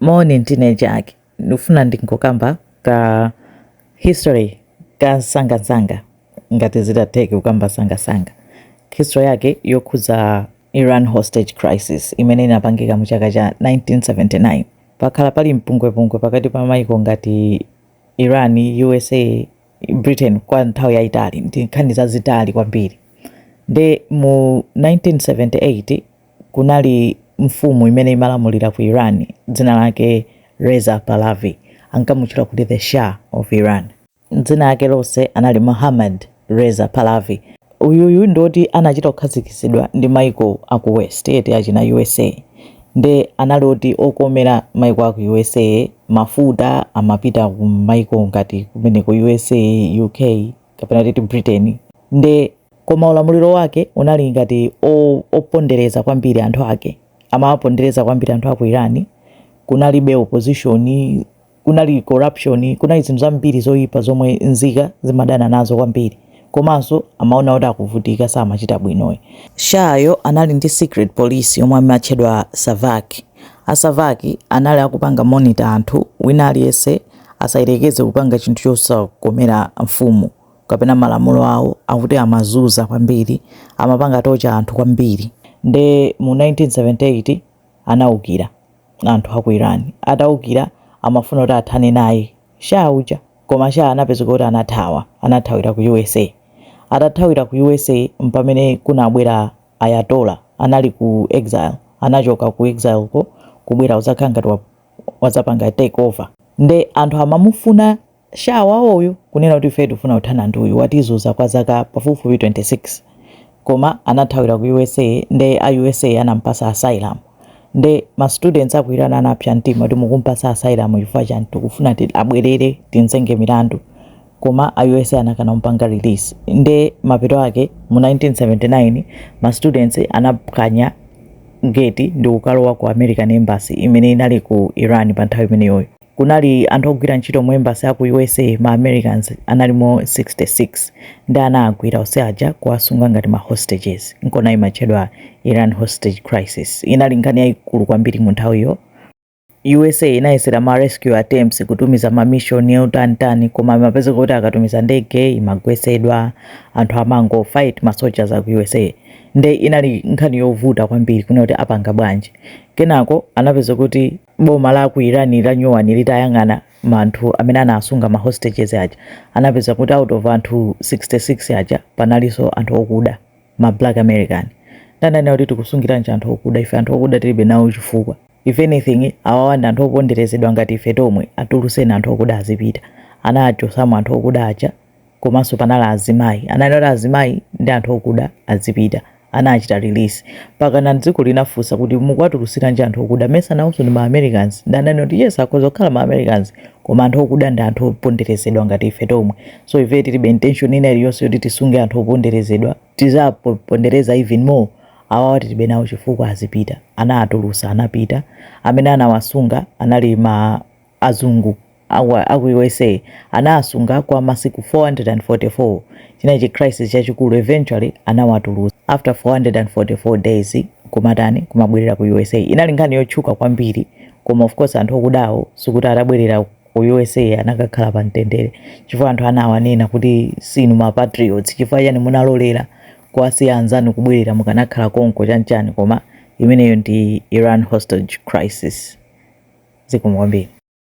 Moni ndine Jack. Ndikufuna ndingokamba ka history ka nsangansanga ngati zitatheke kukamba nsangansanga. History yake yokhudza Iran hostage crisis imene inapangika mu chaka cha 1979. Pakhala pali mpungwepungwe pakati pa maiko ngati Iran, usa, Britain kwa nthawi yaitali. Ndi nkhani zazitali kwambiri. Nde mu 1978. kunali mfumu imene imalamulira ku Iran dzina lake Reza Pahlavi, ankamutchula kuti the Shah of Iran. Dzina lake lonse anali Mohammad Reza Pahlavi. Uyuyu ndi woti anachita kukhazikitsidwa ndi maiko a ku West eti achina USA nde anali oti okomera maiko a ku USA, mafuta amapita ku maiko ngati kumeneku USA, UK. kapena titi britain nde koma ulamuliro wake unali ngati o- opondereza kwambiri anthu ake amawapondereza kwambiri anthu aku iran kunalibe opposition kunali corruption kunali zinthu zambiri zoyipa zomwe nzika zimadana nazo kwambiri komanso amaona kuti akuvutika samachita bwino Shah-yo anali ndi secret police yomwe amatchedwa savak A Savak anali akupanga monitor anthu, wina aliyense asayerekeze kupanga chinthu chosakomera mfumu kapena malamulo awo akuti amazuza kwambiri, amapanga torture anthu kwambiri. Nde mu 1978 anaukira anthu aku Iran, ataukira amafuna kuti athane naye Shah uja koma Shah anapezeka kuti anathawa, anathawira ku USA, atathawira ku USA mpamene kunabwera. Ayatollah anali ku exile anachoka ku exile ko kubwera kudzakhala ngati wadzapanga take over nde anthu amamufuna Shah wawoyu kunena kuti ifeyo tikufuna kuthana ndi uyu watizuza kwa zaka pafupifupi 26 koma anathawira ku usa nde a usa anampasa asylum nde ma students aku iran anapsa mtima kuti mukumpasa asylum chifukwa chani tikufuna abwerere timzenge milandu koma a usa anakana kumpanga release nde mapeto ake mu 1979 ma students anaphwanya gate ndi kukalowa ku american embassy imene inali ku iran pa nthawi imeneyoyo kunali anthu ogwira ntchito mu embassy aku usa ma americans analimo 66 nde anawagwira onse aja kuwasunga ngati ma hostages nkona imatchedwa iran hostage crisis inali nkhani yayikulu kwambiri mu nthawiyo usa inayesera ma rescue attempts kutumiza ma mission yotantani koma imapezeka kuti akatumiza ndege imagwesedwa anthu amango fight ma soldiers aku usa nde inali nkhani yovuta kwambiri kunena kuti apanga bwanji kenako anapezeka kuti boma la ku iran la nyowani litayang'ana anthu amene anasunga ma hostages aja anapeza kuti out of anthu 66 aja panalinso anthu okuda ma black american nde ananena kuti tikusungiranji anthu okuda ife anthu okuda tilibe nawo chifukwa If anything awawa ndi anthu oponderezedwa ngati ife tomwe, atuluseni anthu okuda azipita. Anawachotsamo anthu okuda aja komanso panali azimayi. Ananena kuti azimayi ndi anthu okuda azipita. Anawachita release. Mpakana dziko linafunsa kuti mukuwatulusiranji anthu okuda? Mesa nawonso ndi ma Americans? Nde ananena kuti yes akhoza kukhala ma Americans koma anthu okuda ndi anthu oponderezedwa ngati ife tomwe. So ife tilibe intention ina iliyonse yoti tisunge anthu oponderezedwa. tizawapondereza even more awawa tilibe nawo chifukwa azipita anawatulusa anapita amene anawasunga anali ma azungu aku, aku usa anawasunga kwa masiku 444 chinali chi crisis chachikulu eventually anawatulusa after 444 days kumatani kumabwerera ku usa inali nkhani yotchuka kwambiri koma of course anthu okudawo sikuti atabwerera ku usa anakakhala pa mtendere chifukwa anthu anawanena kuti sinu ma patriots chifukwa chani munalolera kuwasiya anzanu kubwerera mukanakhala konko chanchani koma imeneyo ndi iran hostage crisis zikomo kwambiri